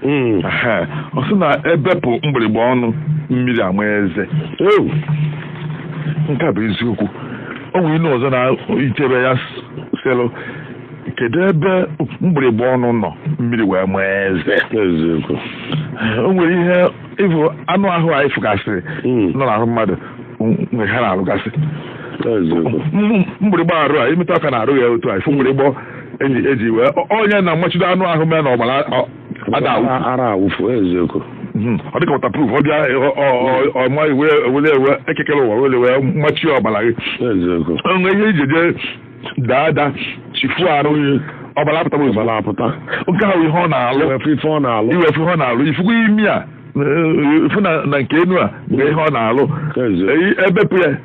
Mm. Ehe, ọ sị na ebepụ mgbịrịgba ọnụ mmiri ama eze Oh. nke a bụ eziokwu o nwere inu ọzọ na-ichebe ya s- sịlụ kedu ebe mgbịrịgba ọnụ nọ mmiri wee ma eze Eziokwu. o nwere ihe ịfụ anụ ahụ anyị fụgasịrị Mm. nọ n'ahụ mmadụ m- nwere ihe ha na-arụgasị Eziokwu. M- mgbịrịgba arụ a i metụ aka n'arụ ya otu a ị fụ mgbịrịgba eji eji wee ọ- onye na-amachido anụ ahụ mee na ọbara ọ- ada awụ Ara- ara awụfu eziokwu Mhm. ọ dịka waterproof ọ bịa ọ- ọ- ọ- ọ ma iwe wele ewe Eke kere ụwa wele wee machie ọbara gị eziokwu o nwee ihe i ji je daa ada chifu arụ ọbara apụtara ozugbo ọbara apụta nke ahụ ihe ọ na-alụ iwefu ife ọ na-alụ iwefu ihe ọ na-alụ ị fụkwa imi a eh, ị fụ na na nke enu a bụ ihe ọ na-alụ Eziokwu. Eh, ebepụ ya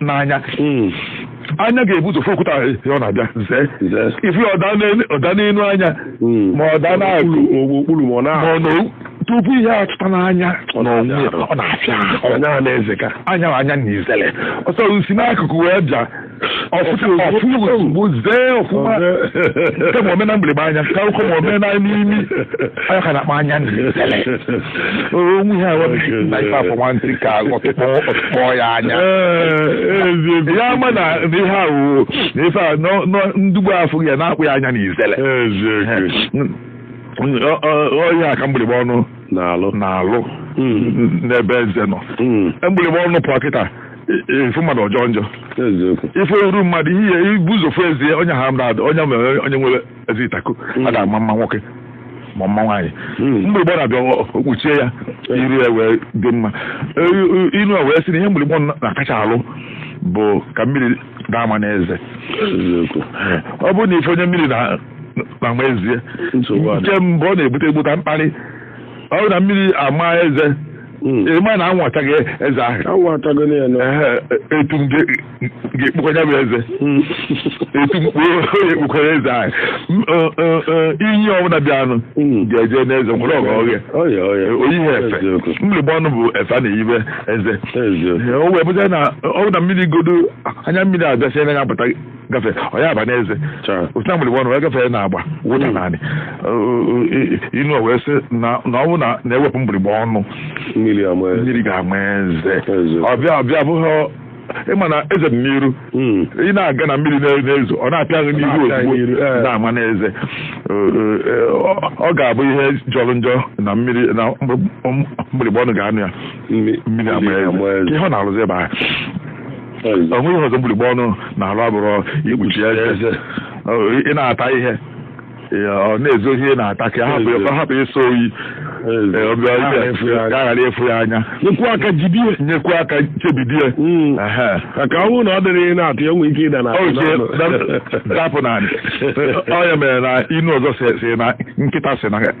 n'anya Mm. anya ga-ebu ụzọ fụ okwute ahụ ya ọ na-abịa zee Zee. ị fụ ya ọ daa n'elu- ọ daa n'elu anya Mm. ma ọ daa n'akụ Okpuru- okpuru ma ọ na ma ọ na tupu ihe atụta n'anya Ọ n'onwe ya, na-afịa. ọ na-afịa ahụ. anya ha na-eze ka anya na anya na izele ọsọ si n'akụkụ wee bịa ọ fụta ọ fụta ozugbo zee ọfụma kemgbe o mee na mgbịrịgba anya ka ụkọ ma omena n'imi anya ka na-akpa anya na izele o nwe ihe awa na ife afọ nwantị ka ọ tụkpọ ọ tụkpọ ya anya ya ama na ihe ahụ na ife a nọ- nọ- ndugbu afọ ya na-akpụ ya anya na izele ọ ya ka mgbịrịgba ọnụ n'alụ na-alụ n'ebe eze nọ mgbịrịgba ọnụ pụọ kịta ifu mmadụ ajọọ njọ eziokwu ị fụ iru mmadụ ihe i bu ụzọ fụ eze onye ahụ mmadụ onye mere onye nwere eze ịtaku hmm. ada ama mma nwoke ma mma nwaanyị hmm. mgbịrịgba na-abịa okpuchie ya iru ya wee dị mma e, e, inu a wee sị na ihe mgbịrịgba na-akacha alụ bụ ka mmiri ada ama n'eze ọ bụrụ na ị fụ onye mmiri na-ama eze nke mbụ ọ na-ebute ebute mkparị ọ bụrụ na mmiri ama eze ị ma hmm. e, na anwụ ataghị eze ahụ etu ga-ekpukwa ya bụ eze etu mkpu onye kpukwara eze ahụ M- ọ, ọ, ọ, ihe ọbụla bịanụ Mm. ga-eje n'eze nwere ọgọ oge Ọya, ọya. o yiha efe Eziokwu. mgbịrịgba ọnụ bụ efe a na-eyibe eze Eziokwu. Ee, o wee bụta na ọ bụ na mmiri godo anya mmiri abịasịa n'anya pụta gafe ọ ya aba n'eze Cha. otu na mgbịrịgba ọnụ wee gafee n'agba wụda naanị inu o wee sị na na ọ bụ na na-ewepụ mgbịrịgba ọnụ Mmiri ama ya. mmiri ga-ama eze Eziokwu. ọ bịa ọ bịa abụghị ị ma na eze dị n'iru Mm. ị na-aga na mmiri na- na-ezo ọ na-apịa gị n'iru Na-apịa gị ozugbo n'iru, eh. na-ama n'eze Eh, eh, ọ- ọ ga-abụ ihe jọrọ njọ na mmiri na mgbịrịgba ọnụ ga-anọ ya Mmi- mmiri ama mmiri ama eze eze. ihe ọ na-arụzi ebe ahụ Eze. ọ nweghị ihe ọzọ mgbịrịgba ọnụ na-alụ abụrọ ikpuchi eze Eze. Ọ, ị na-ata ihe Ee, ọ na-ezo ihe na-ata ka hapụ ya- ka ọ hapụ ịsọ oyi Eze. Ee, ọ bịa- Ka ghara ịfụ ya anya. ka a ghara ịfụ ya anya Nyekwa aka jide ya. nyekwu aka chebidi ya Mm. Ehe. Ka ka ọ bụrụ na ọ dịrị ihe na-atụ ya nwee ike ịda na Ọ ji dapụ n'ala. Ọ ya mere na inu ọzọ si- si na nkịta si na